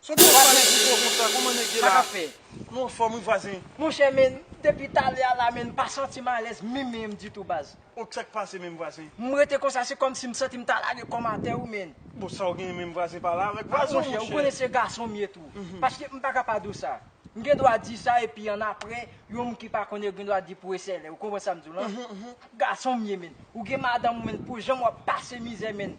Son ti vwazen ki fò konsa kòman nèg ye la. Sa kap fè. Nou anfòm wi vwazen. Monchè men depi talè a la men m pa santim alèz minm minm ditou baz. Ok sak pase menm vwazen. M rete konsa se kòmsi m santim ta lage kòm atè wi menn. Bon sa w genyen menm vwazen pale avèk vwazen w monchè. Monchè ou konnen se gason m ye tou. Paske m paka pa di w sa. M gen dwa di sa epi annapre yon moun ki pa konnen yo gen dwa di pou e sèlè. Ou konprann sa m di w la? Gason m ye menn. Ou gen madanm ou menn pou jan wap pase mizè menn.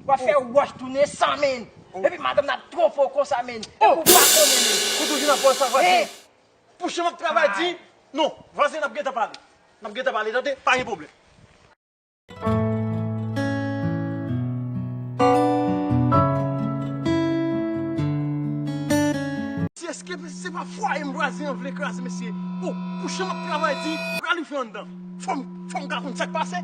Wap fè wòch tounen san menn. Epi madanm nan ap twonpe w konsa menn. Epi ou pa konnen menn. Ou toujou nan pòs sa vwazen. Hey! Pou jan wap travay di. Non, vwazen nap gentan pale. Nap gentan pale tande, pa gen pwoblèm. Si eske se pa fwaye m bwazen an vle kraze mesye o pou jan map travay di pral rive anndan fòm fòm ka konn sak pase.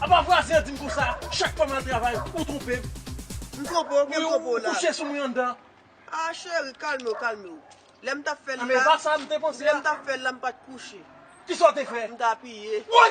Apa vwazen an dim konsa chak fwa mal travay ou twonpem. M twonpe w kem twonpe w la. Ou kouche sou mwen anndan. Ah cheri kalmew kalmew. Lem tap fel la. Anben epa sam te panse a. Lem tap fel la m pat kouche. Kisa w te fe? M t apiye. Woy!